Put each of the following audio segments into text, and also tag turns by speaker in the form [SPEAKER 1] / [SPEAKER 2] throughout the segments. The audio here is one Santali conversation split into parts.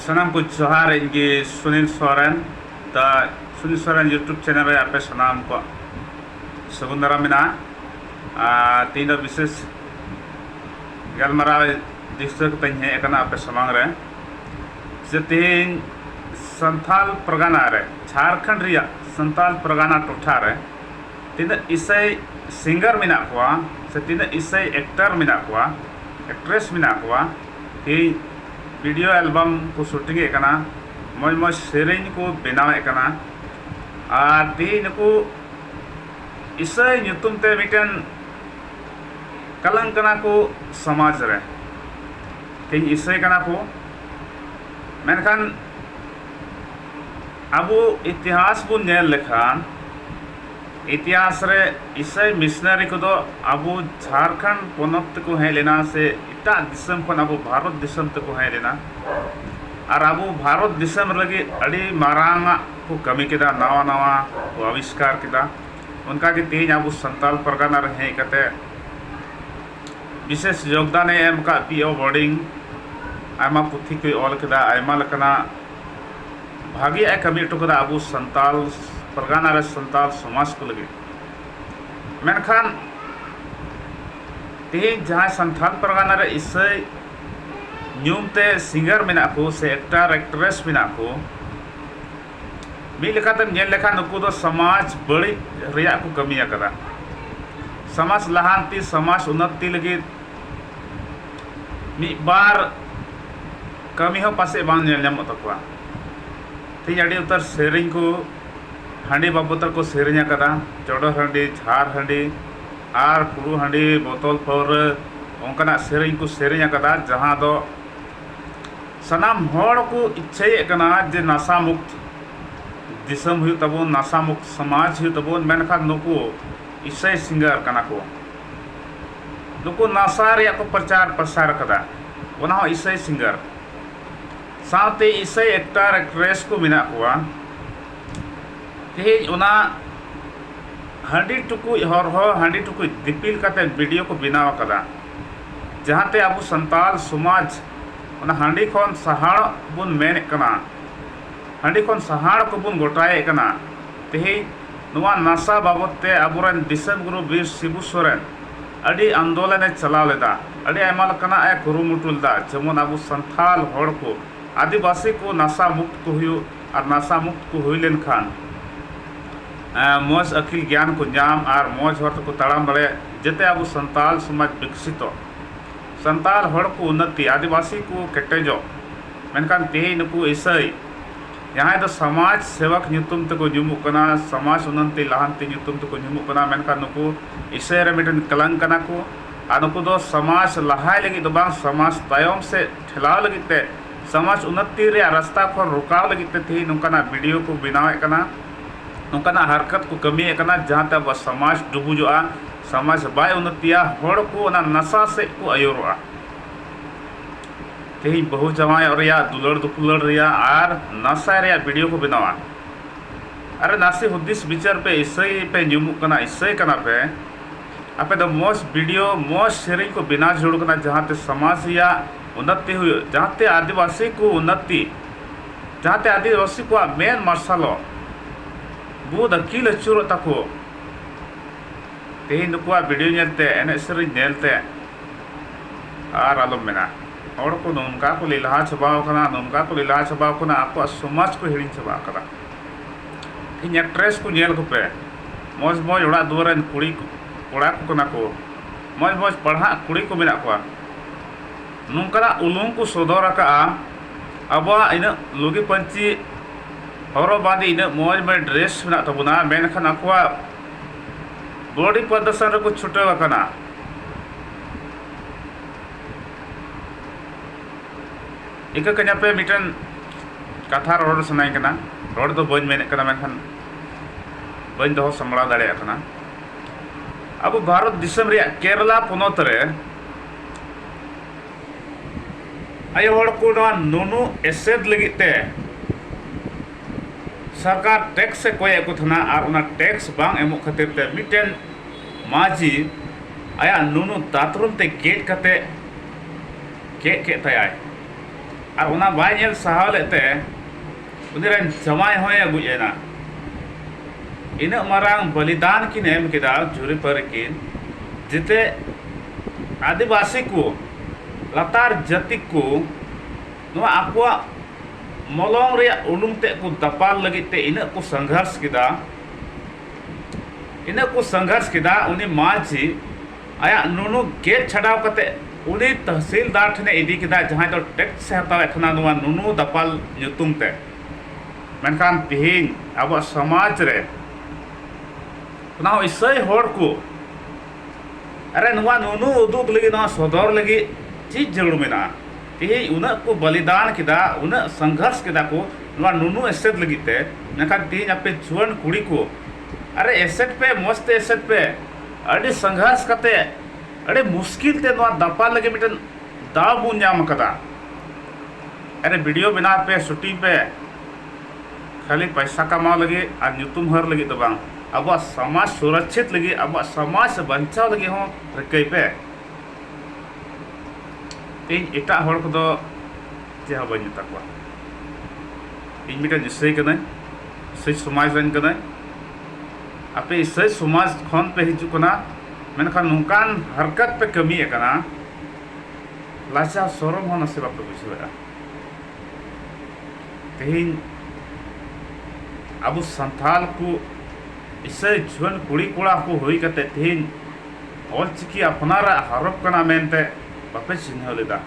[SPEAKER 1] ᱥᱟᱱᱟᱢ ᱠᱚ ᱡᱚᱦᱟᱨ ᱤᱧ ᱜᱮ ᱥᱩᱱᱤᱞ ᱥᱚᱨᱮᱱ ᱫᱟ ᱥᱩᱱᱤᱞ ᱥᱚᱨᱮᱱ ᱭᱩᱴᱩᱵᱽ ᱪᱮᱱᱮᱞ ᱨᱮ ᱟᱯᱮ ᱥᱟᱱᱟᱢ ᱠᱚ ᱥᱟᱹᱜᱩᱱ ᱫᱟᱨᱟᱢ ᱢᱮᱱᱟᱜᱼᱟ ᱟᱨ ᱛᱮᱦᱮᱧ ᱫᱚ ᱵᱤᱥᱮᱥ ᱜᱟᱞᱢᱟᱨᱟᱣ ᱫᱤᱥᱟᱹ ᱠᱟᱛᱮᱧ ᱦᱮᱡ ᱟᱠᱟᱱᱟ ᱟᱯᱮ ᱥᱟᱢᱟᱝ ᱨᱮ ᱡᱮ ᱛᱮᱦᱮᱧ ᱥᱟᱱᱛᱷᱟᱞ ᱯᱟᱨᱜᱟᱱᱟ ᱨᱮ ᱡᱷᱟᱲᱠᱷᱚᱸᱰ ᱨᱮᱭᱟᱜ ᱥᱟᱱᱛᱟᱞ ᱯᱟᱨᱜᱟᱱᱟ ᱴᱚᱴᱷᱟ ᱨᱮ ᱛᱤᱱᱟᱹᱜ ᱤᱥᱟᱹᱭ ᱥᱤᱝᱜᱟᱨ ᱢᱮᱱᱟᱜ ᱠᱚᱣᱟ ᱥᱮ ᱛᱤᱱᱟᱹᱜ ᱤᱥᱟᱹᱭ ᱮᱠᱴᱟᱨ ᱢᱮᱱᱟᱜ ᱠᱚᱣᱟ ᱮᱠᱴᱨᱮᱥ ᱢᱮᱱᱟᱜ ᱠᱚᱣᱟ ᱛᱮᱦᱮᱧ ᱵᱷᱤᱰᱤᱭᱳ ᱮᱞᱵᱟᱢ ᱠᱚ ᱥᱩᱴᱤᱝ ᱮᱫ ᱠᱟᱱᱟ ᱢᱚᱸᱡᱽ ᱢᱚᱸᱡᱽ ᱥᱮᱨᱮᱧ ᱠᱚ ᱵᱮᱱᱟᱣ ᱮᱫ ᱠᱟᱱᱟ ᱟᱨ ᱛᱮᱦᱮᱧ ᱱᱩᱠᱩ ᱤᱥᱟᱹᱭ ᱧᱩᱛᱩᱢ ᱛᱮ ᱢᱤᱫᱴᱮᱱ ᱠᱟᱞᱟᱝ ᱠᱟᱱᱟ ᱠᱚ ᱥᱚᱢᱟᱡᱽ ᱨᱮ ᱛᱮᱦᱮᱧ ᱤᱥᱟᱹᱭ ᱠᱟᱱᱟ ᱠᱚ ᱢᱮᱱᱠᱷᱟᱱ ᱟᱵᱚ ᱤᱛᱤᱦᱟᱥ ᱵᱚᱱ ᱧᱮᱞ ᱞᱮᱠᱷᱟᱱ ᱤᱛᱤᱦᱟᱥ ᱨᱮ ᱤᱥᱟᱹᱭ ᱢᱤᱥᱱᱟᱨᱤ ᱠᱚᱫᱚ ᱟᱵᱚ ᱡᱷᱟᱲᱠᱷᱚᱸᱰ ᱯᱚᱱᱚᱛ ᱛᱮᱠᱚ ᱦᱮᱡ ᱞᱮᱱᱟ ᱥᱮ ᱮᱴᱟᱜ ᱫᱤᱥᱚᱢ ᱠᱷᱚᱱ ᱟᱵᱚ ᱵᱷᱟᱨᱚᱛ ᱫᱤᱥᱚᱢ ᱛᱮᱠᱚ ᱦᱮᱡ ᱞᱮᱱᱟ ᱟᱨ ᱟᱵᱚ ᱵᱷᱟᱨᱚᱛ ᱫᱤᱥᱚᱢ ᱞᱟᱹᱜᱤᱫ ᱟᱹᱰᱤ ᱢᱟᱨᱟᱝ ᱟᱜ ᱠᱚ ᱠᱟᱹᱢᱤ ᱠᱮᱫᱟ ᱱᱟᱣᱟ ᱱᱟᱣᱟ ᱠᱚ ᱟᱵᱤᱥᱠᱟᱨ ᱠᱮᱫᱟ ᱚᱱᱠᱟᱜᱮ ᱛᱮᱦᱤᱧ ᱟᱵᱚ ᱥᱟᱱᱛᱟᱞ ᱯᱟᱨᱜᱟᱱᱟ ᱨᱮ ᱦᱮᱡ ᱠᱟᱛᱮᱫ ᱵᱤᱥᱮᱥ ᱡᱳᱜᱽᱫᱟᱱ ᱮ ᱮᱢ ᱟᱠᱟᱫ ᱯᱤ ᱳ ᱵᱳᱨᱰᱤᱝ ᱟᱭᱢᱟ ᱯᱩᱛᱷᱤ ᱠᱚᱭ ᱚᱞ ᱟᱠᱟᱫᱟ ᱟᱭᱢᱟ ᱞᱮᱠᱟᱱᱟᱜ ᱵᱷᱟᱜᱮᱭᱟᱜ ᱮ ᱠᱟᱹᱢᱤ ᱦᱚᱴᱚ ᱟᱠᱟᱫᱟ ᱟᱵᱚ ᱥᱟᱱᱛᱟᱞ ᱯᱟᱨᱜᱟᱱᱟ ᱨᱮ ᱥᱟᱱᱛᱟᱞ ᱥᱚᱢᱟᱡᱽ ᱠᱚ ᱞᱟᱹᱜᱤᱫ ᱢᱮᱱᱠᱷᱟᱱ ᱛᱮᱦᱮᱧ ᱡᱟᱦᱟᱸᱭ ᱥᱟᱱᱛᱟᱞ ᱯᱟᱨᱜᱟᱱᱟ ᱨᱮ ᱤᱥᱟᱹᱭ ᱧᱩᱢ ᱛᱮ ᱥᱤᱝᱜᱟᱨ ᱢᱮᱱᱟᱜ ᱠᱚ ᱥᱮ ᱮᱠᱴᱟᱨ ᱮᱠᱴᱨᱮᱥ ᱢᱮᱱᱟᱜ ᱠᱚ ᱢᱤᱫ ᱞᱮᱠᱟᱛᱮᱢ ᱧᱮᱞ ᱞᱮᱠᱷᱟᱱ ᱱᱩᱠᱩ ᱫᱚ ᱥᱚᱢᱟᱡᱽ ᱵᱟᱹᱲᱤᱡ ᱨᱮᱭᱟᱜ ᱠᱚ ᱠᱟᱹᱢᱤ ᱟᱠᱟᱫᱟ ᱥᱚᱢᱟᱡᱽ ᱞᱟᱦᱟᱱᱛᱤ ᱥᱚᱢᱟᱡᱽ ᱩᱱᱱᱚᱛᱤ ᱞᱟᱹᱜᱤᱫ ᱢᱤᱫ ᱵᱟᱨ ᱠᱟᱹᱢᱤ ᱦᱚᱸ ᱯᱟᱥᱮᱡ ᱵᱟᱝ ᱧᱮᱞ ᱧᱟᱢᱚᱜ ᱛᱟᱠᱚᱣᱟ ᱛᱮᱦᱤᱧ ᱟᱹᱰᱤ ᱩᱛᱟᱹᱨ ᱥᱮᱨᱮᱧ ᱠᱚ ᱦᱟᱺᱰᱤ ᱵᱟᱵᱚᱫ ᱛᱮᱠᱚ ᱥᱮᱨᱮᱧ ᱟᱠᱟᱫᱟ ᱪᱚᱰᱚᱨ ᱦᱟᱺᱰᱤ ᱡᱷᱟᱨ ᱦᱟᱺᱰᱤ ᱟᱨ ᱯᱷᱩᱲᱩᱜ ᱦᱟᱺᱰᱤ ᱵᱳᱛᱚᱞ ᱯᱟᱹᱣᱨᱟᱹ ᱚᱱᱠᱟᱱᱟᱜ ᱥᱮᱨᱮᱧ ᱠᱚ ᱥᱮᱨᱮᱧ ᱟᱠᱟᱫᱟ ᱡᱟᱦᱟᱸ ᱫᱚ ᱥᱟᱱᱟᱢ ᱦᱚᱲ ᱠᱚ ᱤᱪᱪᱷᱟᱹᱭᱮᱫ ᱠᱟᱱᱟ ᱡᱮ ᱱᱟᱥᱟ ᱢᱩᱠᱛ ᱫᱤᱥᱚᱢ ᱦᱩᱭᱩᱜ ᱛᱟᱵᱚᱱ ᱱᱟᱥᱟ ᱢᱩᱠᱛ ᱥᱚᱢᱟᱡᱽ ᱦᱩᱭᱩᱜ ᱛᱟᱵᱚᱱ ᱢᱮᱱᱠᱷᱟᱱ ᱱᱩᱠᱩ ᱤᱥᱟᱹᱭ ᱥᱤᱝᱜᱟᱨ ᱠᱟᱱᱟ ᱠᱚ ᱱᱩᱠᱩ ᱱᱟᱥᱟ ᱨᱮᱭᱟᱜ ᱠᱚ ᱯᱨᱚᱪᱟᱨ ᱯᱨᱚᱥᱟᱨ ᱟᱠᱟᱫᱟ ᱚᱱᱟ ᱦᱚᱸ ᱤᱥᱟᱹᱭ ᱥᱤᱝᱜᱟᱨ ᱥᱟᱶᱛᱮ ᱤᱥᱟᱹᱭ ᱮᱠᱴᱟᱨ ᱮᱠᱴᱨᱮᱥ ᱠᱚ ᱢᱮᱱᱟᱜ ᱠᱚᱣᱟ ᱛᱮᱦᱮᱧ ᱚᱱᱟ ᱦᱟᱺᱰᱤ ᱴᱩᱠᱩᱡ ᱦᱚᱨᱦᱚ ᱦᱟᱺᱰᱤ ᱴᱩᱠᱩᱡ ᱫᱤᱯᱤᱞ ᱠᱟᱛᱮᱫ ᱵᱷᱤᱰᱤᱭᱳ ᱠᱚ ᱵᱮᱱᱟᱣ ᱟᱠᱟᱫᱟ ᱡᱟᱦᱟᱸᱛᱮ ᱟᱵᱚ ᱥᱟᱱᱛᱟᱞ ᱥᱚᱢᱟᱡᱽ ᱚᱱᱟ ᱦᱟᱺᱰᱤ ᱠᱷᱚᱱ ᱥᱟᱦᱟᱲᱚᱜ ᱵᱚᱱ ᱢᱮᱱᱮᱫ ᱠᱟᱱᱟ, ᱦᱟᱺᱰᱤ ᱠᱷᱚᱱ ᱥᱟᱦᱟᱲ ᱠᱚᱵᱚᱱ ᱜᱚᱴᱟᱭᱮᱫ ᱠᱟᱱᱟ᱾ ᱛᱮᱦᱮᱧ ᱱᱚᱣᱟ ᱱᱟᱥᱟ ᱵᱟᱵᱚᱛ ᱛᱮ ᱟᱵᱚ ᱨᱮᱱ ᱫᱤᱥᱚᱢ ᱜᱩᱨᱩ ᱵᱤᱨ ᱥᱤᱵᱩ ᱥᱚᱨᱮᱱ ᱟᱹᱰᱤ ᱟᱱᱫᱚᱞᱚᱱ ᱮ ᱪᱟᱞᱟᱣ ᱞᱮᱫᱟ, ᱟᱹᱰᱤ ᱟᱭᱢᱟ ᱞᱮᱠᱟᱱᱟᱜ ᱮ ᱠᱩᱨᱩᱢᱩᱴᱩ ᱞᱮᱫᱟ ᱡᱮᱢᱚᱱ ᱟᱵᱚ ᱥᱟᱱᱛᱷᱟᱞ ᱦᱚᱲ ᱠᱚ, ᱟᱹᱫᱤᱵᱟᱹᱥᱤ ᱠᱚ ᱱᱟᱥᱟ ᱢᱩᱠᱛ ᱠᱚ ᱦᱩᱭᱩᱜ ᱟᱨ ᱱᱟᱥᱟ ᱢᱩᱠᱛ ᱠᱚ ᱦᱩᱭ ᱞᱮᱱ ᱠᱷᱟᱱ ᱢᱚᱡᱽ ᱟᱹᱠᱤᱞ ᱜᱮᱭᱟᱱ ᱠᱚ ᱧᱟᱢ ᱟᱨ ᱢᱚᱡᱽ ᱦᱚᱨ ᱛᱮᱠᱚ ᱛᱟᱲᱟᱢ ᱫᱟᱲᱮᱭᱟᱜ ᱡᱟᱛᱮ ᱟᱵᱚ ᱥᱟᱱᱛᱟᱞ ᱥᱚᱢᱟᱡᱽ ᱵᱤᱠᱥᱤᱛᱚᱜ᱾ ᱥᱟᱱᱛᱟᱲ ᱦᱚᱲ ᱠᱚ ᱩᱱᱱᱚᱛᱤ, ᱟᱹᱫᱤᱵᱟᱹᱥᱤ ᱠᱚ ᱠᱮᱴᱮᱡᱚᱜ᱾ ᱢᱮᱱᱠᱷᱟᱱ ᱛᱮᱦᱮᱧ ᱱᱩᱠᱩ ᱤᱥᱟᱹᱭ ᱡᱟᱦᱟᱸᱭ ᱫᱚ ᱥᱚᱢᱟᱡᱽ ᱥᱮᱵᱚᱠ ᱧᱩᱛᱩᱢ ᱛᱮᱠᱚ ᱧᱩᱢᱩᱜ ᱠᱟᱱᱟ, ᱥᱚᱢᱟᱡᱽ ᱩᱱᱱᱚᱛᱤ ᱞᱟᱦᱟᱱᱛᱤ ᱧᱩᱛᱩᱢ ᱛᱮᱠᱚ ᱧᱩᱢᱩᱜ ᱠᱟᱱᱟ ᱢᱮᱱᱠᱷᱟᱱ ᱱᱩᱠᱩ ᱤᱥᱟᱹᱭ ᱨᱮ ᱢᱤᱫᱴᱮᱱ ᱠᱟᱞᱟᱝᱠ ᱠᱟᱱᱟ ᱠᱚ ᱟᱨ ᱱᱩᱠᱩ ᱫᱚ ᱥᱚᱢᱟᱡᱽ ᱞᱟᱦᱟᱭ ᱞᱟᱹᱜᱤᱫ ᱫᱚ ᱵᱟᱝ ᱥᱚᱢᱟᱡᱽ ᱛᱟᱭᱚᱢ ᱥᱮᱫ ᱴᱷᱮᱞᱟᱣ ᱞᱟᱹᱜᱤᱫ ᱛᱮ ᱥᱚᱢᱟᱡᱽ ᱩᱱᱱᱚᱛᱤ ᱨᱮᱭᱟᱜ ᱨᱟᱥᱛᱟ ᱠᱷᱚᱱ ᱨᱚᱠᱟᱣ ᱞᱟᱹᱜᱤᱫ ᱛᱮ ᱛᱮᱦᱮᱧ ᱱᱚᱝᱠᱟᱱᱟᱜ ᱵᱤᱰᱤᱭᱳ ᱠᱚ ᱵᱮᱱᱟᱣᱮᱫ ᱠᱟᱱᱟ, ᱱᱚᱝᱠᱟᱱᱟᱜ ᱦᱟᱨᱠᱟᱛ ᱠᱚ ᱠᱟᱹᱢᱤᱭᱮᱫ ᱠᱟᱱᱟ ᱡᱟᱦᱟᱸ ᱛᱮ ᱟᱵᱚᱣᱟᱜ ᱥᱚᱢᱟᱡᱽ ᱰᱩᱵᱩᱡᱚᱜᱼᱟ᱾ ᱥᱚᱢᱟᱡᱽ ᱵᱟᱭ ᱩᱱᱱᱚᱛᱤᱭᱟ ᱦᱚᱲ ᱠᱚ ᱚᱱᱟ ᱱᱟᱥᱟ ᱥᱮᱫ ᱠᱚ ᱟᱹᱭᱩᱨᱚᱜᱼᱟ ᱛᱮᱦᱮᱧ ᱵᱟᱹᱦᱩ ᱡᱟᱶᱟᱭᱚᱜ ᱨᱮᱭᱟᱜ ᱫᱩᱞᱟᱹᱲ ᱫᱩᱯᱩᱞᱟᱹᱲ ᱨᱮᱭᱟᱜ ᱟᱨ ᱱᱟᱥᱟᱭ ᱨᱮᱭᱟᱜ ᱵᱷᱤᱰᱤᱭᱳ ᱠᱚ ᱵᱮᱱᱟᱣᱟ ᱟᱨ ᱱᱟᱥᱮ ᱦᱩᱫᱤᱥ ᱵᱤᱪᱟᱹᱨ ᱯᱮ ᱤᱥᱟᱹᱭ ᱯᱮ ᱧᱩᱢᱩᱜ ᱠᱟᱱᱟ ᱤᱥᱟᱹᱭ ᱠᱟᱱᱟ ᱯᱮ ᱟᱯᱮ ᱫᱚ ᱢᱚᱡᱽ ᱵᱷᱤᱰᱤᱭᱳ ᱢᱚᱡᱽ ᱥᱮᱨᱮᱧ ᱠᱚ ᱵᱮᱱᱟᱣ ᱡᱟᱹᱨᱩᱲ ᱠᱟᱱᱟ ᱡᱟᱦᱟᱸᱛᱮ ᱥᱚᱢᱟᱡᱽ ᱨᱮᱭᱟᱜ ᱩᱱᱱᱚᱛᱤ ᱦᱩᱭᱩᱜ ᱡᱟᱦᱟᱸᱛᱮ ᱟᱹᱫᱤᱵᱟᱹᱥᱤ ᱠᱚ ᱩᱱᱱᱚᱛᱤ ᱡᱟᱦᱟᱸᱛᱮ ᱟᱹᱫᱤᱵᱟᱹᱥᱤ ᱠᱚᱣᱟᱜ ᱢᱮᱫ ᱢᱟᱨᱥᱟᱞᱚᱜ ᱵᱩᱫᱷ ᱟᱹᱠᱤᱞ ᱟᱹᱪᱩᱨᱚᱜ ᱛᱟᱠᱚ ᱛᱮᱦᱮᱧ ᱱᱩᱠᱩᱣᱟᱜ ᱵᱷᱤᱰᱤᱭᱳ ᱧᱮᱞᱛᱮ ᱮᱱᱮᱡ ᱥᱮᱨᱮᱧ ᱧᱮᱞᱛᱮ ᱟᱨ ᱟᱞᱚᱢ ᱢᱮᱱᱟ ᱦᱚᱲ ᱠᱚ ᱱᱚᱝᱠᱟ ᱠᱚ ᱞᱮᱞᱦᱟ ᱪᱟᱵᱟ ᱟᱠᱟᱱᱟ ᱱᱚᱝᱠᱟ ᱠᱚ ᱞᱮᱞᱦᱟ ᱪᱟᱵᱟ ᱟᱠᱟᱱᱟ ᱟᱠᱚᱣᱟᱜ ᱥᱚᱢᱟᱡᱽ ᱠᱚ ᱦᱤᱲᱤᱧ ᱪᱟᱵᱟ ᱟᱠᱟᱫᱟ ᱤᱧ ᱮᱠᱴᱨᱮᱥ ᱠᱚ ᱧᱮᱞ ᱠᱚᱯᱮ ᱢᱚᱡᱽ ᱢᱚᱡᱽ ᱚᱲᱟᱜ ᱫᱩᱣᱟᱹᱨ ᱨᱮᱱ ᱠᱩᱲᱤ ᱠᱚᱲᱟ ᱠᱚ ᱠᱟᱱᱟ ᱠᱚ ᱢᱚᱡᱽ ᱢᱚᱡᱽ ᱯᱟᱲᱦᱟᱜ ᱠᱩᱲᱤ ᱠᱚ ᱢᱮᱱᱟᱜ ᱠᱚᱣᱟ ᱱᱚᱝᱠᱟᱱᱟᱜ ᱩᱞᱩᱝ ᱠᱚ ᱥᱚᱫᱚᱨ ᱟᱠᱟᱫᱼᱟ ᱟᱵᱚᱣᱟᱜ ᱤᱱᱟᱹᱜ ᱞᱩᱜᱤ ᱯᱟᱹᱧᱪᱤ ᱦᱚᱨᱚᱜ ᱵᱟᱸᱫᱮ ᱤᱱᱟᱹᱜ ᱢᱚᱡᱽ ᱢᱚᱡᱽ ᱰᱨᱮᱥ ᱢᱮᱱᱟᱜ ᱛᱟᱵᱚᱱᱟ ᱢᱮᱱᱠᱷᱟᱱ ᱟᱠᱚᱣᱟᱜ ᱜᱳᱣᱰᱤ ᱯᱨᱚᱫᱚᱨᱥᱚᱱ ᱨᱮᱠᱚ ᱪᱷᱩᱴᱟᱹᱣ ᱟᱠᱟᱱᱟ᱾ ᱤᱠᱟᱹ ᱠᱟᱹᱧ ᱟᱯᱮ ᱢᱤᱫᱴᱮᱱ ᱠᱟᱛᱷᱟ ᱨᱚᱲ ᱥᱟᱱᱟᱧ ᱠᱟᱱᱟ ᱨᱚᱲ ᱫᱚ ᱵᱟᱹᱧ ᱢᱮᱱᱮᱫ ᱠᱟᱱᱟ ᱢᱮᱱᱠᱷᱟᱱ ᱵᱟᱹᱧ ᱫᱚᱦᱚ ᱥᱟᱢᱵᱲᱟᱣ ᱫᱟᱲᱮᱭᱟᱜ ᱠᱟᱱᱟ ᱟᱵᱚ ᱵᱷᱟᱨᱚᱛ ᱫᱤᱥᱚᱢ ᱨᱮᱭᱟᱜ ᱠᱮᱨᱟᱞᱟ ᱯᱚᱱᱚᱛ ᱨᱮ ᱟᱭᱳ ᱦᱚᱲ ᱠᱚ ᱱᱚᱣᱟ ᱱᱩᱱᱩ ᱮᱥᱮᱫ ᱞᱟᱹᱜᱤᱫ ᱛᱮ ᱥᱚᱨᱠᱟᱨ ᱴᱮᱠᱥ ᱮ ᱠᱚᱭᱮᱫ ᱠᱚ ᱛᱟᱦᱮᱱᱟ ᱟᱨ ᱚᱱᱟ ᱴᱮᱠᱥ ᱵᱟᱝ ᱮᱢᱚᱜ ᱠᱷᱟᱹᱛᱤᱨ ᱛᱮ ᱢᱤᱫᱴᱮᱱ ᱢᱟᱹᱡᱷᱤ ᱟᱭᱟᱜ ᱱᱩᱱᱩ ᱫᱟᱛᱨᱚᱢ ᱛᱮ ᱜᱮᱫ ᱠᱟᱛᱮ ᱜᱮᱫ ᱠᱮᱫ ᱛᱟᱭᱟᱭ ᱟᱨ ᱚᱱᱟ ᱵᱟᱭ ᱧᱮᱞ ᱥᱟᱦᱟᱣ ᱞᱮᱫ ᱛᱮ ᱩᱱᱤ ᱨᱮᱱ ᱡᱟᱶᱟᱭ ᱦᱚᱸᱭ ᱜᱚᱡ ᱮᱱᱟ ᱤᱱᱟᱹᱜ ᱢᱟᱨᱟᱝ ᱵᱚᱞᱤᱫᱟᱱ ᱠᱤᱱ ᱮᱢ ᱠᱮᱫᱟ ᱡᱩᱨᱤ ᱯᱟᱹᱨᱤ ᱠᱤᱱ ᱡᱟᱛᱮ ᱟᱹᱫᱤᱵᱟᱹᱥᱤ ᱠᱚ ᱞᱟᱛᱟᱨ ᱡᱟᱹᱛᱤ ᱠᱚ ᱱᱚᱣᱟ ᱟᱠᱚᱣᱟᱜ ᱢᱚᱞᱚᱝ ᱨᱮᱭᱟᱜ ᱩᱰᱩᱝ ᱛᱮᱫ ᱠᱚ ᱫᱟᱯᱟᱞ ᱞᱟᱹᱜᱤᱫ ᱛᱮ ᱤᱱᱟᱹᱜ ᱠᱚ ᱥᱚᱝᱜᱷᱟᱨᱥ ᱠᱮᱫᱟ ᱤᱱᱟᱹᱜ ᱠᱚ ᱥᱚᱝᱜᱷᱟᱨᱥ ᱠᱮᱫᱟ ᱩᱱᱤ ᱢᱟᱹᱡᱷᱤ ᱟᱭᱟᱜ ᱱᱩᱱᱩ ᱜᱮᱫ ᱪᱷᱟᱰᱟᱣ ᱠᱟᱛᱮ ᱩᱱᱤ ᱛᱟᱹᱦᱥᱤᱞᱫᱟᱨ ᱴᱷᱮᱱᱮ ᱤᱫᱤ ᱠᱮᱫᱟ ᱡᱟᱦᱟᱸᱭ ᱫᱚ ᱴᱮᱠᱥ ᱮ ᱦᱟᱛᱟᱣᱮᱫ ᱛᱟᱦᱮᱱᱟ ᱱᱚᱣᱟ ᱱᱩᱱᱩ ᱫᱟᱯᱟᱞ ᱧᱩᱛᱩᱢ ᱛᱮ ᱢᱮᱱᱠᱷᱟᱱ ᱛᱮᱦᱮᱧ ᱟᱵᱚᱣᱟᱜ ᱥᱚᱢᱟᱡᱽ ᱨᱮ ᱚᱱᱟ ᱦᱚᱸ ᱤᱥᱟᱹᱭ ᱦᱚᱲ ᱠᱚ ᱟᱨᱮ ᱱᱚᱣᱟ ᱱᱩᱱᱩ ᱩᱫᱩᱜ ᱞᱟᱹᱜᱤᱫ ᱱᱚᱣᱟ ᱥᱚᱫᱚᱨ ᱞᱟᱹᱜᱤᱫ ᱪᱮᱫ ᱡᱟᱹᱨᱩᱲ ᱢᱮᱱᱟᱜᱼᱟ ᱛᱮᱦᱮᱧ ᱩᱱᱟᱹᱜ ᱠᱚ ᱵᱟᱞᱤᱫᱟᱱ ᱠᱮᱫᱟ ᱩᱱᱟᱹᱜ ᱥᱚᱝᱜᱷᱚᱨᱥ ᱠᱮᱫᱟ ᱠᱚ ᱱᱚᱣᱟ ᱱᱩᱱᱩ ᱮᱥᱮᱫ ᱞᱟᱹᱜᱤᱫ ᱛᱮ ᱢᱮᱱᱠᱷᱟᱱ ᱛᱮᱦᱮᱧ ᱟᱯᱮ ᱡᱩᱣᱟᱹᱱ ᱠᱩᱲᱤ ᱠᱚ ᱟᱨᱮ ᱮᱥᱮᱫ ᱯᱮ ᱢᱚᱡᱽ ᱛᱮ ᱮᱥᱮᱫ ᱯᱮ ᱟᱹᱰᱤ ᱥᱚᱝᱜᱷᱚᱨᱥ ᱠᱟᱛᱮ ᱟᱹᱰᱤ ᱢᱩᱥᱠᱤᱞ ᱛᱮ ᱱᱚᱣᱟ ᱫᱟᱯᱟᱞ ᱞᱟᱹᱜᱤᱫ ᱢᱤᱫᱴᱮᱱ ᱫᱟᱣ ᱵᱚᱱ ᱧᱟᱢ ᱟᱠᱟᱫᱟ ᱟᱨᱮ ᱵᱷᱤᱰᱤᱭᱳ ᱵᱮᱱᱟᱣ ᱯᱮ ᱥᱩᱴᱤᱝ ᱯᱮ ᱠᱷᱟᱹᱞᱤ ᱯᱚᱭᱥᱟ ᱠᱟᱢᱟᱣ ᱞᱟᱹᱜᱤᱫ ᱟᱨ ᱧᱩᱛᱩᱢ ᱦᱟᱹᱨ ᱞᱟᱹᱜᱤᱫ ᱫᱚ ᱵᱟᱝ ᱟᱵᱚᱣᱟᱜ ᱥᱚᱢᱟᱡᱽ ᱥᱩᱨᱚᱠᱠᱷᱤᱛ ᱞᱟᱹᱜᱤᱫ ᱟᱵᱚᱣᱟᱜ ᱥᱚᱢᱟᱡᱽ ᱵᱟᱧᱪᱟᱣ ᱞᱟᱹᱜᱤᱫ ᱦᱚᱸ ᱨᱤᱠᱟᱹᱭ ᱯᱮ ᱤᱧ ᱮᱴᱟᱜ ᱦᱚᱲ ᱠᱚᱫᱚ ᱪᱮᱫ ᱦᱚᱸ ᱵᱟᱹᱧ ᱢᱮᱛᱟ ᱠᱚᱣᱟ ᱤᱧ ᱢᱤᱫᱴᱮᱱ ᱤᱥᱟᱹᱭ ᱠᱟᱹᱱᱟᱹᱧ ᱤᱥᱟᱹᱭ ᱥᱚᱢᱟᱡᱽ ᱨᱮᱱ ᱠᱟᱹᱱᱟᱹᱧ ᱟᱯᱮ ᱤᱥᱟᱹᱭ ᱥᱚᱢᱟᱡᱽ ᱠᱷᱚᱱ ᱯᱮ ᱦᱤᱡᱩᱜ ᱠᱟᱱᱟ ᱢᱮᱱᱠᱷᱟᱱ ᱱᱚᱝᱠᱟᱱ ᱦᱟᱨᱠᱟᱛ ᱯᱮ ᱠᱟᱹᱢᱤᱭᱮᱫ ᱠᱟᱱᱟ ᱞᱟᱡᱟᱣ ᱥᱚᱨᱚᱢ ᱦᱚᱸ ᱱᱟᱥᱮ ᱵᱟᱯᱮ ᱵᱩᱡᱷᱟᱹᱣᱮᱫᱼᱟ ᱛᱮᱦᱮᱧ ᱟᱵᱚ ᱥᱟᱱᱛᱟᱲ ᱠᱚ ᱤᱥᱟᱹᱭ ᱡᱩᱣᱟᱹᱱ ᱠᱩᱲᱤᱼᱠᱚᱲᱟ ᱠᱚ ᱦᱩᱭ ᱠᱟᱛᱮᱫ ᱛᱮᱦᱮᱧ ᱚᱞᱪᱤᱠᱤ ᱟᱯᱱᱟᱨᱟᱜ ᱦᱚᱨᱚᱯ ᱠᱟᱱᱟ ᱢᱮᱱᱛᱮ ᱵᱟᱯᱮ ᱪᱤᱱᱦᱟᱹᱣ ᱞᱮᱫᱟ᱾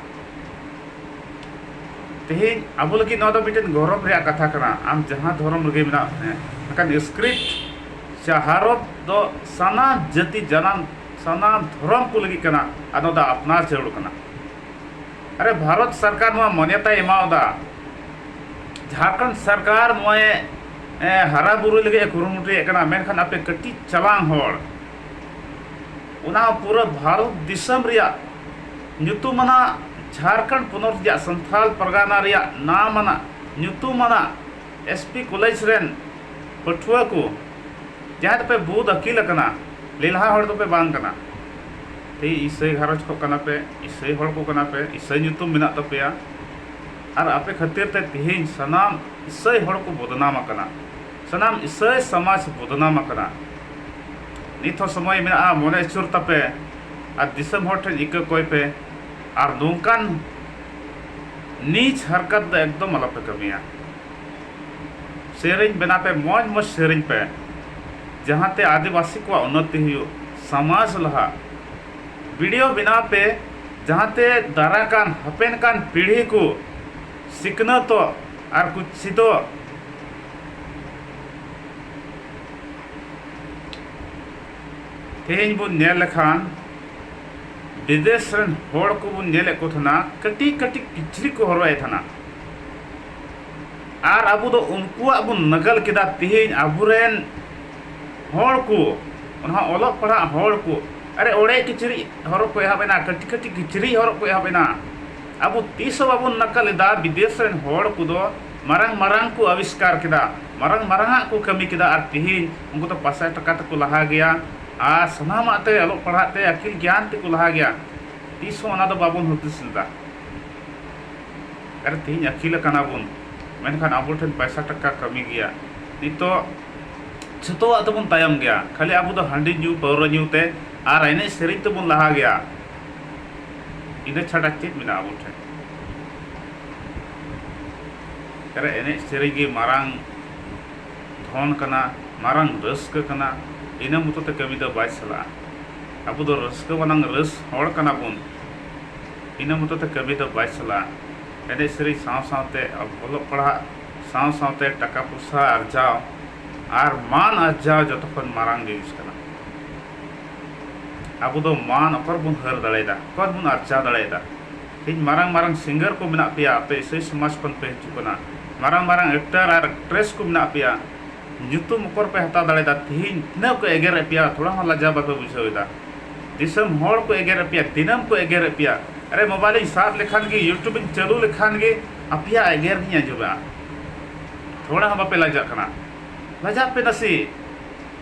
[SPEAKER 1] ᱛᱮᱦᱮᱧ ᱟᱵᱚ ᱞᱟᱹᱜᱤᱫ ᱱᱚᱣᱟ ᱫᱚ ᱢᱤᱫᱴᱮᱱ ᱜᱚᱨᱚᱵᱽ ᱨᱮᱭᱟᱜ ᱠᱟᱛᱷᱟ ᱠᱟᱱᱟ ᱟᱢ ᱡᱟᱦᱟᱸ ᱫᱷᱚᱨᱚᱢ ᱨᱮᱜᱮ ᱢᱮᱱᱟᱜ ᱢᱮ ᱢᱮᱱᱠᱷᱟᱱ ᱥᱠᱨᱤᱯᱴ ᱥᱮ ᱦᱚᱨᱚᱯ ᱫᱚ ᱥᱟᱱᱟᱢ ᱡᱟᱹᱛᱤ ᱡᱟᱱᱟᱢ ᱥᱟᱱᱟᱢ ᱫᱷᱚᱨᱚᱢ ᱠᱚ ᱞᱟᱹᱜᱤᱫ ᱠᱟᱱᱟ ᱟᱨ ᱱᱚᱣᱟ ᱫᱚ ᱟᱯᱱᱟᱨ ᱡᱟᱹᱨᱩᱲ ᱠᱟᱱᱟ᱾ ᱟᱨᱮ ᱵᱷᱟᱨᱚᱛ ᱥᱚᱨᱠᱟᱨ ᱱᱚᱣᱟ ᱢᱟᱱᱭᱚᱛᱟᱭ ᱮᱢᱟᱣᱟᱫᱟ᱾ ᱡᱷᱟᱨᱠᱷᱚᱸᱰ ᱥᱚᱨᱠᱟᱨ ᱱᱚᱣᱟᱭ ᱦᱟᱨᱟ ᱵᱩᱨᱩᱭ ᱞᱟᱹᱜᱤᱫ ᱮ ᱠᱩᱨᱩᱢᱩᱴᱩᱭᱮᱫ ᱠᱟᱱᱟ ᱢᱮᱱᱠᱷᱟᱱ ᱟᱯᱮ ᱠᱟᱹᱴᱤᱡ ᱪᱟᱞᱟᱝ ᱦᱚᱲ ᱚᱱᱟ ᱦᱚᱸ ᱯᱩᱨᱟᱹ ᱵᱷᱟᱨᱚᱛ ᱫᱤᱥᱚᱢ ᱨᱮᱭᱟᱜ ᱧᱩᱛᱩᱢᱟᱱᱟᱜ ᱡᱷᱟᱨᱠᱷᱚᱸᱰ ᱯᱚᱱᱚᱛ ᱨᱮᱭᱟᱜ ᱥᱟᱱᱛᱷᱟᱞ ᱯᱟᱨᱜᱟᱱᱟ ᱨᱮᱭᱟᱜ ᱱᱟᱢᱟᱱᱟᱜ ᱧᱩᱛᱩᱢᱟᱱᱟᱜ ᱮᱥ ᱯᱤ ᱠᱚᱞᱮᱡᱽ ᱨᱮᱱ ᱯᱟᱹᱴᱷᱩᱣᱟᱹ ᱠᱚ ᱡᱟᱦᱟᱸᱭ ᱫᱚᱯᱮ ᱵᱩᱫ ᱟᱹᱠᱤᱞ ᱟᱠᱟᱱᱟ ᱞᱮᱞᱦᱟ ᱦᱚᱲ ᱫᱚᱯᱮ ᱵᱟᱝ ᱠᱟᱱᱟ ᱛᱮ ᱤᱥᱟᱹᱭ ᱜᱷᱟᱨᱚᱸᱡᱽ ᱠᱷᱚᱱ ᱠᱟᱱᱟ ᱯᱮ ᱤᱥᱟᱹᱭ ᱦᱚᱲ ᱠᱚ ᱠᱟᱱᱟ ᱯᱮ ᱤᱥᱟᱹᱭ ᱧᱩᱛᱩᱢ ᱢᱮᱱᱟᱜ ᱛᱟᱯᱮᱭᱟ ᱟᱨ ᱟᱯᱮ ᱠᱷᱟᱹᱛᱤᱨ ᱛᱮ ᱛᱮᱦᱮᱧ ᱥᱟᱱᱟᱢ ᱤᱥᱟᱹᱭ ᱦᱚᱲ ᱠᱚ ᱵᱚᱫᱽᱱᱟᱢ ᱟᱠᱟᱱᱟ ᱥᱟᱱᱟᱢ ᱤᱥᱟᱹᱭ ᱥᱚᱢᱟᱡᱽ ᱵᱚᱫᱱᱟᱢ ᱟᱠᱟᱱᱟ᱾ ᱱᱤᱛ ᱦᱚᱸ ᱥᱚᱢᱚᱭ ᱢᱮᱱᱟᱜᱼᱟ ᱢᱚᱱᱮ ᱟᱹᱪᱩᱨ ᱛᱟᱯᱮ ᱟᱨ ᱫᱤᱥᱚᱢ ᱦᱚᱲ ᱴᱷᱮᱱ ᱤᱠᱟᱹ ᱠᱚᱭ ᱯᱮ ᱟᱨ ᱱᱚᱝᱠᱟᱱ ᱱᱤᱪ ᱦᱟᱨᱠᱟᱛ ᱫᱚ ᱮᱠᱫᱚᱢ ᱟᱞᱚ ᱯᱮ ᱠᱟᱹᱢᱤᱭᱟ᱾ ᱥᱮᱨᱮᱧ ᱵᱮᱱᱟᱣ ᱯᱮ ᱢᱚᱡᱽ ᱢᱚᱡᱽ ᱥᱮᱨᱮᱧ ᱯᱮ ᱡᱟᱦᱟᱸ ᱛᱮ ᱟᱹᱫᱤᱵᱟᱹᱥᱤ ᱠᱚᱣᱟᱜ ᱩᱱᱱᱚᱛᱤ ᱦᱩᱭᱩᱜ, ᱥᱚᱢᱟᱡᱽ ᱞᱟᱦᱟᱜ᱾ ᱵᱤᱰᱤᱭᱳ ᱵᱮᱱᱟᱣ ᱯᱮ ᱡᱟᱦᱟᱸ ᱛᱮ ᱫᱟᱨᱟᱭ ᱠᱟᱱ ᱦᱟᱯᱮᱱ ᱠᱟᱱ ᱯᱤᱲᱦᱤ ᱠᱚ ᱥᱤᱠᱷᱱᱟᱹᱛᱚᱜ ᱟᱨ ᱠᱚ ᱪᱮᱫᱚᱜ᱾ ᱛᱮᱦᱮᱧ ᱵᱚᱱ ᱧᱮᱞ ᱞᱮᱠᱷᱟᱱ ᱵᱤᱫᱮᱥ ᱨᱮᱱ ᱦᱚᱲ ᱠᱚᱵᱚᱱ ᱧᱮᱞᱮᱫ ᱠᱚ ᱛᱟᱦᱮᱱᱟ ᱠᱟᱹᱴᱤᱡ ᱠᱟᱹᱴᱤᱡ ᱠᱤᱪᱨᱤᱡ ᱠᱚ ᱦᱚᱨᱚᱜᱮᱫ ᱛᱟᱦᱮᱱᱟ ᱟᱨ ᱟᱵᱚ ᱫᱚ ᱩᱱᱠᱩᱣᱟᱜ ᱵᱚᱱ ᱱᱟᱜᱟᱞ ᱠᱮᱫᱟ ᱛᱮᱦᱮᱧ ᱟᱵᱚᱨᱮᱱ ᱦᱚᱲ ᱠᱚ ᱚᱱᱟ ᱚᱞᱚᱜ ᱯᱟᱲᱦᱟᱜ ᱦᱚᱲ ᱠᱚ ᱟᱨᱮ ᱚᱲᱮᱡ ᱠᱤᱪᱨᱤᱡ ᱦᱚᱨᱚᱜ ᱠᱚ ᱮᱦᱚᱵ ᱮᱱᱟ ᱠᱟᱹᱴᱤᱡ ᱠᱟᱹᱴᱤᱡ ᱠᱤᱪᱨᱤᱡ ᱦᱚᱨᱚᱜ ᱠᱚ ᱮᱦᱚᱵ ᱮᱱᱟ ᱟᱵᱚ ᱛᱤᱥ ᱦᱚᱸ ᱵᱟᱵᱚᱱ ᱱᱟᱜᱟᱞ ᱮᱫᱟ ᱵᱤᱫᱮᱥ ᱨᱮᱱ ᱦᱚᱲ ᱠᱚᱫᱚ ᱢᱟᱨᱟᱝ ᱢᱟᱨᱟᱝ ᱠᱚ ᱟᱵᱤᱥᱠᱟᱨ ᱠᱮᱫᱟ ᱢᱟᱨᱟᱝ ᱢᱟᱨᱟᱝ ᱟᱜ ᱠᱚ ᱠᱟᱹᱢᱤ ᱠᱮᱫᱟ ᱟᱨ ᱛᱤᱦᱤᱧ ᱩᱱᱠᱩ ᱫᱚ ᱯᱟᱥᱟᱭ ᱴᱟᱠᱟ ᱛᱮᱠᱚ ᱞᱟᱦᱟ ᱜᱮᱭᱟ ᱟᱨ ᱥᱟᱱᱟᱢᱟᱜ ᱛᱮ ᱚᱞᱚᱜ ᱯᱟᱲᱦᱟᱜ ᱛᱮ ᱟᱹᱠᱤᱞ ᱜᱮᱭᱟᱱ ᱛᱮᱠᱚ ᱞᱟᱦᱟ ᱜᱮᱭᱟ ᱛᱤᱥ ᱦᱚᱸ ᱚᱱᱟ ᱫᱚ ᱵᱟᱵᱚᱱ ᱦᱩᱫᱤᱥ ᱞᱮᱫᱟ ᱟᱨ ᱛᱤᱦᱤᱧ ᱟᱹᱠᱤᱞ ᱟᱠᱟᱱᱟ ᱵᱚᱱ ᱢᱮᱱᱠᱷᱟᱱ ᱟᱵᱚ ᱴᱷᱮᱱ ᱯᱟᱭᱥᱟ ᱴᱟᱠᱟ ᱠᱟᱹᱢᱤ ᱜᱮᱭᱟ ᱱᱤᱛᱚᱜ ᱡᱷᱚᱛᱚᱣᱟᱜ ᱛᱮᱵᱚᱱ ᱛᱟᱭᱚᱢ ᱜᱮᱭᱟ ᱠᱷᱟᱹᱞᱤ ᱟᱵᱚ ᱫᱚ ᱦᱟᱺᱰᱤ ᱧᱩ ᱯᱟᱹᱣᱨᱟᱹ ᱧᱩ ᱛᱮ ᱟᱨ ᱮᱱᱮᱡ ᱥᱮᱨᱮᱧ ᱛᱮᱵᱚᱱ ᱞᱟᱦᱟ ᱜᱮᱭᱟ ᱤᱱᱟᱹ ᱪᱷᱟᱰᱟ ᱪᱮᱫ ᱢᱮᱱᱟᱜᱼᱟ ᱟᱵᱚ ᱴᱷᱮᱱ ᱨᱮ ᱮᱱᱮᱡ ᱥᱮᱨᱮᱧ ᱜᱮ ᱢᱟᱨᱟᱝ ᱫᱷᱚᱱ ᱠᱟᱱᱟ ᱢᱟᱨᱟᱝ ᱨᱟᱹᱥᱠᱟᱹ ᱠᱟᱱᱟ ᱤᱱᱟᱹ ᱢᱚᱛᱚ ᱛᱮ ᱠᱟᱹᱢᱤ ᱫᱚ ᱵᱟᱭ ᱪᱟᱞᱟᱜᱼᱟ ᱟᱵᱚ ᱫᱚ ᱨᱟᱹᱥᱠᱟᱹ ᱵᱟᱞᱟᱝ ᱨᱟᱹᱥ ᱦᱚᱲ ᱠᱟᱱᱟ ᱵᱚᱱ ᱤᱱᱟᱹ ᱢᱚᱛᱚ ᱛᱮ ᱠᱟᱹᱢᱤ ᱫᱚ ᱵᱟᱭ ᱪᱟᱞᱟᱜᱼᱟ ᱮᱱᱮᱡ ᱥᱮᱨᱮᱧ ᱥᱟᱶ ᱥᱟᱶᱛᱮ ᱚᱞᱚᱜ ᱯᱟᱲᱦᱟᱜ ᱥᱟᱶ ᱥᱟᱶᱛᱮ ᱴᱟᱠᱟ ᱯᱚᱭᱥᱟ ᱟᱨᱡᱟᱣ ᱟᱨ ᱢᱟᱱ ᱟᱨᱡᱟᱣ ᱡᱚᱛᱚ ᱠᱷᱚᱱ ᱢᱟᱨᱟᱝ ᱡᱤᱱᱤᱥ ᱠᱟᱱᱟ ᱟᱵᱚ ᱫᱚ ᱢᱟᱱ ᱚᱠᱟ ᱨᱮᱵᱚᱱ ᱦᱟᱹᱨ ᱫᱟᱲᱮᱭᱟᱫᱟ, ᱚᱠᱟ ᱨᱮᱵᱚᱱ ᱟᱨᱡᱟᱣ ᱫᱟᱲᱮᱭᱟᱫᱟ? ᱛᱮᱦᱮᱧ ᱢᱟᱨᱟᱝ ᱢᱟᱨᱟᱝ ᱥᱤᱝᱜᱟᱨ ᱠᱚ ᱢᱮᱱᱟᱜ ᱯᱮᱭᱟ, ᱟᱯᱮ ᱤᱥᱟᱹᱭ ᱥᱚᱢᱟᱡᱽ ᱠᱷᱚᱱ ᱯᱮ ᱦᱤᱡᱩᱜ ᱠᱟᱱᱟ᱾ ᱢᱟᱨᱟᱝ ᱢᱟᱨᱟᱝ ᱮᱠᱴᱟᱨ ᱟᱨ ᱮᱠᱴᱨᱮᱥ ᱠᱚ ᱢᱮᱱᱟᱜ ᱯᱮᱭᱟ, ᱧᱩᱛᱩᱢ ᱚᱠᱟ ᱨᱮᱯᱮ ᱦᱟᱛᱟᱣ ᱫᱟᱲᱮᱭᱟᱫᱟ? ᱛᱮᱦᱮᱧ ᱛᱤᱱᱟᱹᱜ ᱠᱚ ᱮᱜᱮᱨ ᱮᱫ ᱯᱮᱭᱟ, ᱛᱷᱚᱲᱟ ᱦᱚᱸ ᱞᱟᱡᱟᱣ ᱵᱟᱯᱮ ᱵᱩᱡᱷᱟᱹᱣ ᱮᱫᱟ᱾ ᱫᱤᱥᱚᱢ ᱦᱚᱲ ᱠᱚ ᱮᱜᱮᱨ ᱮᱫ ᱯᱮᱭᱟ, ᱫᱤᱱᱟᱹᱢ ᱠᱚ ᱮᱜᱮᱨ ᱮᱫ ᱯᱮᱭᱟ᱾ ᱟᱨᱮ ᱢᱳᱵᱟᱭᱤᱞ ᱤᱧ ᱥᱟᱵ ᱞᱮᱠᱷᱟᱱ ᱜᱮ, ᱭᱩᱴᱩᱵᱽ ᱤᱧ ᱪᱟᱹᱞᱩ ᱞᱮᱠᱷᱟᱱ ᱜᱮ ᱟᱯᱮᱭᱟᱜ ᱮᱜᱮᱨ ᱜᱤᱧ ᱟᱸᱡᱚᱢᱮᱫᱼᱟ᱾ ᱛᱷᱚᱲᱟ ᱦᱚᱸ ᱵᱟᱯᱮ ᱞᱟᱡᱟᱜ ᱠᱟᱱᱟ᱾ ᱞᱟᱡᱟᱜ ᱯᱮ ᱱᱟᱥᱮ᱾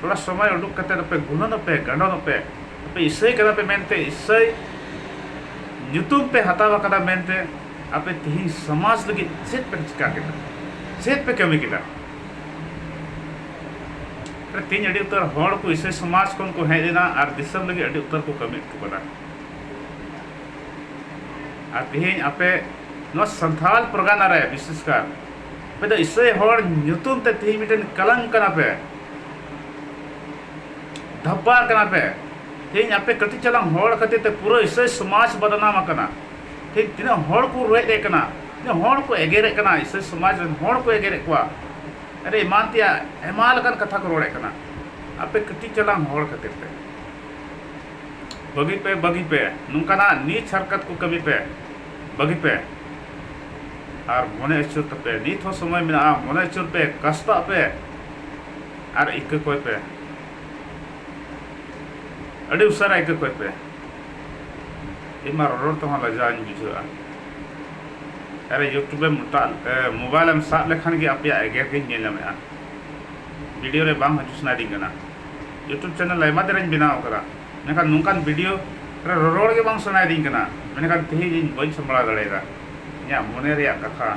[SPEAKER 1] ᱛᱷᱚᱲᱟ ᱥᱚᱢᱚᱭ ᱩᱰᱩᱠ ᱠᱟᱛᱮ ᱟᱯᱮ ᱜᱩᱱᱟᱹᱱ ᱟᱯᱮ ᱜᱟᱸᱰᱚᱱ ᱟᱯᱮ ᱟᱯᱮ ᱤᱥᱟᱹᱭ ᱠᱟᱱᱟ ᱯᱮ ᱢᱮᱱᱛᱮ ᱤᱥᱟᱹᱭ ᱧᱩᱛᱩᱢ ᱯᱮ ᱦᱟᱛᱟᱣ ᱟᱠᱟᱫᱟ ᱢᱮᱱᱛᱮ ᱟᱯᱮ ᱛᱤᱦᱤᱧ ᱥᱚᱢᱟᱡᱽ ᱞᱟᱹᱜᱤᱫ ᱪᱮᱫ ᱯᱮ ᱪᱤᱠᱟ ᱠᱮᱫᱟ ᱪᱮᱫ ᱯᱮ ᱠᱟᱹᱢᱤ ᱠᱮᱫᱟ ᱛᱤᱦᱤᱧ ᱟᱹᱰᱤ ᱩᱛᱟᱹᱨ ᱦᱚᱲ ᱠᱚ ᱤᱥᱟᱹᱭ ᱥᱚᱢᱟᱡᱽ ᱠᱷᱚᱱ ᱠᱚ ᱦᱮᱡ ᱞᱮᱱᱟ ᱟᱨ ᱫᱤᱥᱚᱢ ᱞᱟᱹᱜᱤᱫ ᱟᱹᱰᱤ ᱩᱛᱟᱹᱨ ᱠᱚ ᱠᱟᱹᱢᱤ ᱦᱚᱴᱚ ᱠᱟᱫᱟ ᱟᱨ ᱛᱤᱦᱤᱧ ᱟᱯᱮ ᱱᱚᱣᱟ ᱥᱟᱱᱛᱷᱟᱞ ᱯᱨᱚᱜᱟᱱᱟ ᱨᱮ ᱵᱤᱥᱮᱥ ᱠᱟᱨ ᱟᱯᱮ ᱫᱚ ᱤᱥᱟᱹᱭ ᱦᱚᱲ ᱧᱩᱛᱩᱢ ᱛᱮ ᱛᱤᱦᱤᱧ ᱢᱤᱫᱴᱮᱱ ᱠᱟᱞᱟᱝ ᱠᱟᱱᱟ ᱯᱮ ᱫᱷᱟᱯᱟ ᱠᱟᱱᱟ ᱯᱮ ᱛᱮᱦᱮᱧ ᱟᱯᱮ ᱠᱟᱹᱴᱤᱡ ᱪᱟᱞᱟᱝ ᱦᱚᱲ ᱠᱷᱟᱹᱛᱤᱨ ᱛᱮ ᱯᱩᱨᱟᱹ ᱤᱥᱟᱹᱭ ᱥᱚᱢᱟᱡᱽ ᱵᱚᱫᱱᱟᱢ ᱟᱠᱟᱱᱟ ᱛᱮᱦᱮᱧ ᱛᱤᱱᱟᱹᱜ ᱦᱚᱲ ᱠᱚ ᱨᱚᱦᱮᱫ ᱮ ᱠᱟᱱᱟ ᱛᱤᱱᱟᱹᱜ ᱦᱚᱲ ᱠᱚ ᱮᱜᱮᱨᱮᱫ ᱠᱟᱱᱟ ᱤᱥᱟᱹᱭ ᱥᱚᱢᱟᱡᱽ ᱨᱮᱱ ᱦᱚᱲ ᱠᱚ ᱮᱜᱮᱨᱮᱫ ᱠᱚᱣᱟ ᱟᱨ ᱮᱢᱟᱱ ᱛᱮᱭᱟᱜ ᱟᱭᱢᱟ ᱞᱮᱠᱟᱱ ᱠᱟᱛᱷᱟ ᱠᱚ ᱨᱚᱲᱮᱫ ᱠᱟᱱᱟ ᱟᱯᱮ ᱠᱟᱹᱴᱤᱡ ᱪᱟᱞᱟᱝ ᱦᱚᱲ ᱠᱷᱟᱹᱛᱤᱨ ᱛᱮ ᱵᱟᱹᱜᱤ ᱯᱮ ᱵᱟᱹᱜᱤ ᱯᱮ ᱱᱚᱝᱠᱟᱱᱟᱜ ᱱᱤᱪ ᱦᱟᱨᱠᱟᱛ ᱠᱚ ᱠᱟᱹᱢᱤ ᱯᱮ ᱵᱟᱹᱜᱤ ᱯᱮ ᱟᱨ ᱢᱚᱱᱮ ᱟᱹᱪᱩᱨ ᱛᱟᱯᱮ ᱱᱤᱛ ᱦᱚᱸ ᱥᱚᱢᱚᱭ ᱢᱮᱱᱟᱜᱼᱟ ᱢᱚᱱᱮ ᱟᱹᱪᱩᱨ ᱯᱮ ᱠᱟᱥᱛᱟᱜ ᱯᱮ ᱟᱨ ᱤᱠᱟᱹ ᱠᱚᱭ ᱯᱮ ᱟᱹᱰᱤ ᱩᱥᱟᱹᱨᱟ ᱤᱠᱟᱹ ᱠᱚᱭ ᱯᱮ ᱤᱧ ᱢᱟ ᱨᱚᱲ ᱛᱮᱦᱚᱸ ᱞᱟᱡᱟᱣᱤᱧ ᱵᱩᱡᱷᱟᱹᱣᱟ ᱟᱨ ᱤᱭᱩᱴᱩᱵᱽ ᱮᱢ ᱢᱚᱴᱟᱜ ᱢᱳᱵᱟᱭᱤᱞ ᱮᱢ ᱥᱟᱵ ᱞᱮᱠᱷᱟᱱ ᱜᱮ ᱟᱯᱮᱭᱟᱜ ᱮᱜᱮᱨ ᱜᱤᱧ ᱧᱮᱞ ᱧᱟᱢᱮᱜᱼᱟ ᱵᱷᱤᱰᱤᱭᱳ ᱨᱮ ᱵᱟᱝ ᱦᱤᱡᱩᱜ ᱥᱟᱱᱟᱭᱤᱧ ᱠᱟᱱᱟ ᱤᱭᱩᱴᱩᱵᱽ ᱪᱮᱱᱮᱞ ᱟᱭᱢᱟ ᱫᱤᱱᱤᱧ ᱵᱮᱱᱟᱣ ᱠᱟᱫᱟ ᱢᱮᱱᱠᱷᱟᱱ ᱱᱚᱝᱠᱟᱱ ᱵᱷᱤᱰᱤᱭᱳ ᱨᱮ ᱨᱚᱨᱚᱲ ᱜᱮ ᱵᱟᱝ ᱥᱟᱱᱟᱭᱤᱧ ᱠᱟᱱᱟ ᱢᱮᱱᱠᱷᱟᱱ ᱛᱮᱦᱮᱧ ᱤᱧ ᱵᱟᱹᱧ ᱥᱟᱢᱵᱲᱟᱣ ᱫᱟᱲᱮᱭᱟᱫᱟ ᱤᱧᱟᱹᱜ ᱢᱚᱱᱮ ᱨᱮᱭᱟᱜ ᱠᱟᱛᱷᱟ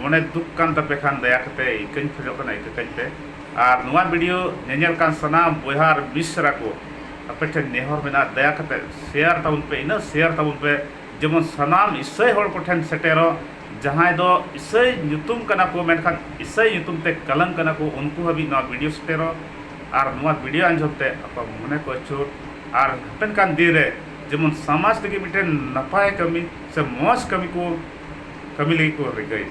[SPEAKER 1] ᱢᱚᱱᱮ ᱫᱩᱠ ᱠᱟᱱ ᱛᱟᱯᱮ ᱠᱷᱟᱱ ᱫᱟᱭᱟ ᱠᱟᱛᱮ ᱤᱠᱟᱹᱧ ᱠᱷᱚᱡᱚᱜ ᱠᱟᱱᱟ ᱤᱠᱟᱹ ᱠᱟᱹᱧ ᱯᱮ ᱟᱨ ᱱᱚᱣᱟ ᱵᱷᱤᱰᱤᱭᱳ ᱧᱮᱧᱮᱞ ᱠᱟᱱ ᱥᱟᱱᱟᱢ ᱵᱚᱭᱦᱟ ᱟᱨ ᱢᱤᱥᱨᱟ ᱠᱚ ᱟᱯᱮ ᱴᱷᱮᱱ ᱱᱮᱦᱚᱨ ᱢᱮᱱᱟᱜᱼᱟ ᱫᱟᱭᱟ ᱠᱟᱛᱮ ᱥᱮᱭᱟᱨ ᱛᱟᱵᱚᱱ ᱯᱮ ᱤᱱᱟᱹᱜ ᱥᱮᱭᱟᱨ ᱛᱟᱵᱚᱱ ᱯᱮ ᱡᱮᱢᱚᱱ ᱥᱟᱱᱟᱢ ᱤᱥᱟᱹᱭ ᱦᱚᱲ ᱠᱚ ᱴᱷᱮᱱ ᱥᱮᱴᱮᱨᱚᱜ ᱡᱟᱦᱟᱸᱭ ᱫᱚ ᱤᱥᱟᱹᱭ ᱧᱩᱛᱩᱢ ᱠᱟᱱᱟ ᱠᱚ ᱢᱮᱱᱠᱷᱟᱱ ᱤᱥᱟᱹᱭ ᱧᱩᱛᱩᱢ ᱛᱮ ᱠᱟᱞᱟᱝ ᱠᱟᱱᱟ ᱠᱚ ᱩᱱᱠᱩ ᱦᱟᱹᱵᱤᱡ ᱱᱚᱣᱟ ᱵᱷᱤᱰᱤᱭᱳ ᱥᱮᱴᱮᱨᱚᱜ ᱟᱨ ᱱᱚᱣᱟ ᱵᱷᱤᱰᱤᱭᱳ ᱟᱸᱡᱚᱢ ᱛᱮ ᱟᱠᱚᱣᱟᱜ ᱢᱚᱱᱮ ᱠᱚ ᱟᱹᱪᱩᱨ ᱟᱨ ᱦᱟᱯᱮᱱ ᱠᱟᱱ ᱫᱤᱱ ᱨᱮ ᱡᱮᱢᱚᱱ ᱥᱟᱢᱟᱡᱽ ᱞᱟᱹᱜᱤᱫ ᱢᱤᱫᱴᱮᱱ ᱱᱟᱯᱟᱭ ᱠᱟᱹᱢᱤ ᱥᱮ ᱢᱚᱡᱽ ᱠᱟᱹᱢᱤ ᱠᱚ ᱠᱟᱹᱢᱤ ᱞᱟᱹᱜᱤᱫ ᱠᱚ ᱨᱤᱠᱟᱹᱭᱮᱫ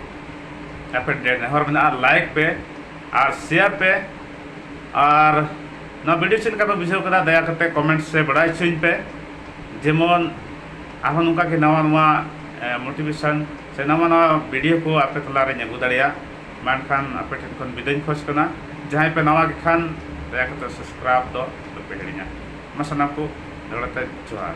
[SPEAKER 1] ᱟᱯᱮ ᱴᱷᱮᱱ ᱱᱮᱦᱚᱨ ᱢᱮᱱᱟᱜᱼᱟ ᱞᱟᱭᱤᱠ ᱯᱮ ᱟᱨ ᱥᱮᱭᱟᱨ ᱯᱮ ᱟᱨ ᱱᱚᱣᱟ ᱵᱷᱤᱰᱤᱭᱳ ᱪᱮᱫ ᱞᱮᱠᱟ ᱯᱮ ᱵᱩᱡᱷᱟᱹᱣ ᱠᱮᱫᱟ ᱫᱟᱭᱟ ᱠᱟᱛᱮ ᱠᱚᱢᱮᱱᱴ ᱥᱮ ᱵᱟᱲᱟᱭ ᱦᱚᱪᱚᱧ ᱯᱮ ᱡᱮᱢᱚᱱ ᱟᱨᱦᱚᱸ ᱱᱚᱝᱠᱟ ᱜᱮ ᱱᱟᱣᱟ ᱱᱟᱣᱟ ᱢᱳᱴᱤᱵᱷᱮᱥᱚᱱ ᱥᱮ ᱱᱟᱣᱟ ᱱᱟᱣᱟ ᱵᱷᱤᱰᱤᱭᱳ ᱠᱚ ᱟᱯᱮ ᱛᱟᱞᱟᱨᱮᱧ ᱟᱹᱜᱩ ᱫᱟᱲᱮᱭᱟᱜ ᱢᱟ ᱮᱱᱠᱷᱟᱱ ᱟᱯᱮ ᱴᱷᱮᱱ ᱠᱷᱚᱱ ᱵᱤᱫᱟᱹᱧ ᱠᱷᱚᱡᱽ ᱠᱟᱱᱟ ᱡᱟᱦᱟᱸᱭ ᱯᱮ ᱱᱟᱣᱟ ᱜᱮ ᱠᱷᱟᱱ ᱫᱟᱭᱟ ᱠᱟᱛᱮ ᱥᱟᱵᱥᱠᱨᱟᱭᱤᱵᱽ ᱫᱚ ᱟᱞᱚᱯᱮ ᱦᱤᱲᱤᱧᱟ ᱢᱟ ᱥᱟᱱᱟᱢ ᱠᱚ ᱫᱚᱦᱲᱟ ᱛᱮ ᱡᱚᱦᱟᱨ